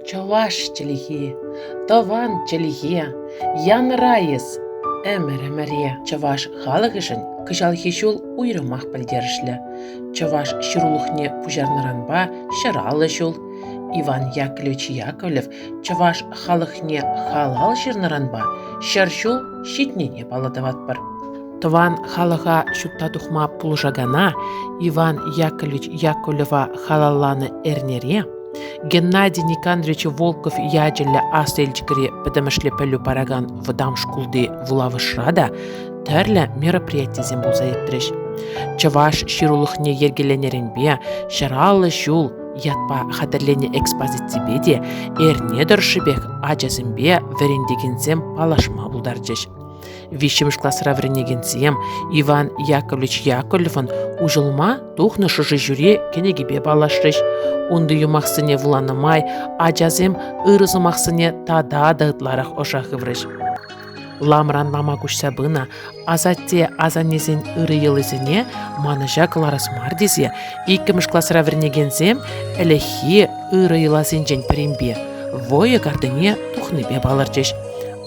Чӑваш чӗлхи, тӑван чӗлхе, янӑрайӑс ӗмӗр-ӗмӗре чӑваш халӑхӗшӗн кӑҫалхи ҫул уйрӑмах пӗлтерӗшлӗ. Чӑваш ҫырулӑхне пуҫарнӑранпа ҫӑраллӑ ҫул. Иван Яковлевич Яковлев чӑваш халӑхне халал ҫырнӑранпа ҫӗр ҫул ҫитнине паллӑ тӑватпӑр. Тӑван халӑха ҫутта тухма пулӑшакана Иван Яковлевич Яковлева халалланӑ эрнере Геннадий Никандрович Волков ячӗллӗ Аслӑ Елчӗкри пӗтӗмӗшле пӗлӳ паракан вӑтам шкулти вулавӑшра та тӗрлӗ мероприятисем пулса иртрӗҫ. Чӑваш ҫырулӑхне йӗркеленӗренпе «Ҫӑраллӑ ҫул» ятпа хатӗрленӗ экспозиципе те эрне тӑршшӗпех ачасемпе вӗрентекенсем паллашма пултарчӗҫ. виҫҫӗмӗш класра вӗренекенсем Иван Яковлевич Яковлевӑн уҫӑлма тухнӑ шӑши ҫӳре кӗнекипе паллашрӗҫ. Унти юмахсене вуланӑ май ачасем ырӑ сӑмахсене тата та ытларах ӑша хыврӗҫ. Ламран лама куҫса пынӑ асатте асаннесен ырӑ йӑлисене манӑҫа кӑларас мар тесе иккӗмӗш класра вӗренекенсем ӗлӗкхи ырӑ йӑласенчен пӗринпе войӑ картине тухнипе палӑрчӗҫ.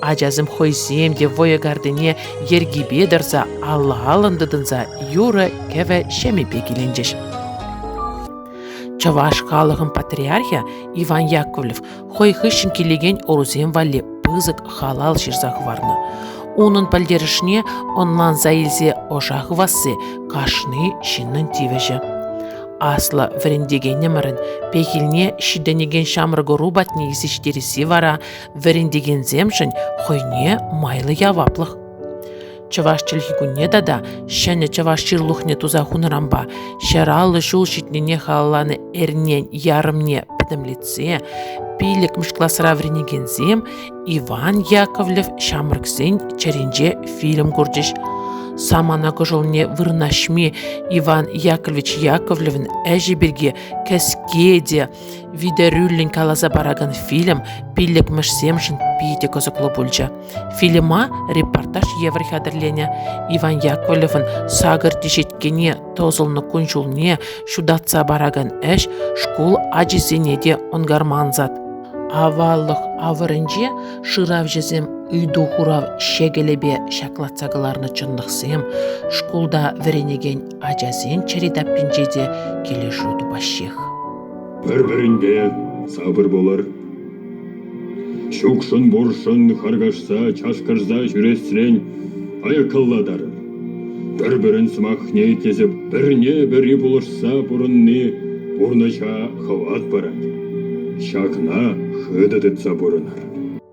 Ачасем хӑйсем те вӑйӑ картине йӗркипе тӑрса алла-аллӑн тытӑнса юрӑ-кӗвӗ ҫемӗпе киленчӗҫ. Чӑваш халӑхӑн патриархӗ Иван Яковлев хӑй хыҫҫӑн килекен ӑрусем валли пысӑк халал ҫырса хӑварнӑ. Унӑн пӗлтерӗшне ӑнланса илсе ӑша хывасси кашни ҫыннӑн тивӗҫӗ. Аслӑ вӗрентекенӗмӗрӗн пехилне ҫитӗнекен ҫамрӑк ӑру патне ҫитересси вара вӗрентекенсемшӗн хӑйне майлӑ яваплӑх. Чӑваш чӗлхи кунне тата ҫӗнӗ чӑваш ҫырлухне туса хунӑранпа ҫӗр аллӑ ҫул ҫитнине халалланӑ эрнен ярӑмне пӗтӗмлетсе пиллӗкмӗш класра вӗренекенсем Иван Яковлев ҫамрӑксен чӗринче фильм курчӗҫ. Самана кӑшӑлне вырнаҫми Иван Яковлевич Яковлевӑн ӗҫӗ пирки кӗске те Витӗрӳллӗн каласа паракан фильм пиллӗкмӗшсемшӗн питӗ кӑсӑклӑ пулчӗ. Фильма репортаж евӗр хатӗрленӗ. Иван Яковлевӑн сакӑр теҫеткене тӑсӑлнӑ кун-ҫулне ҫутатса паракан ӗҫ шкул ачисене те ӑнкарма ансат. Аваллӑх авӑрӗнче шыравҫӑсем ыйту-хурав ҫекӗлӗпе ҫаклатса кӑларнӑ чӑнлӑхсем, шкулта вӗренекен ачасем чӗри таппинче те килӗшӳ тупаҫҫех. Пӗр-пӗринпе сапӑр пулӑр. Чукшӑн-буршӑн харкашса, чашкӑрса ҫӳресрен аяккаллатар. Пӗр-пӗрин сӑмахне итлесе пӗрне-пӗри пулӑшса пурӑнни пурнӑҫа хӑват парать. Ҫакна хытӑ тытса пурӑнар.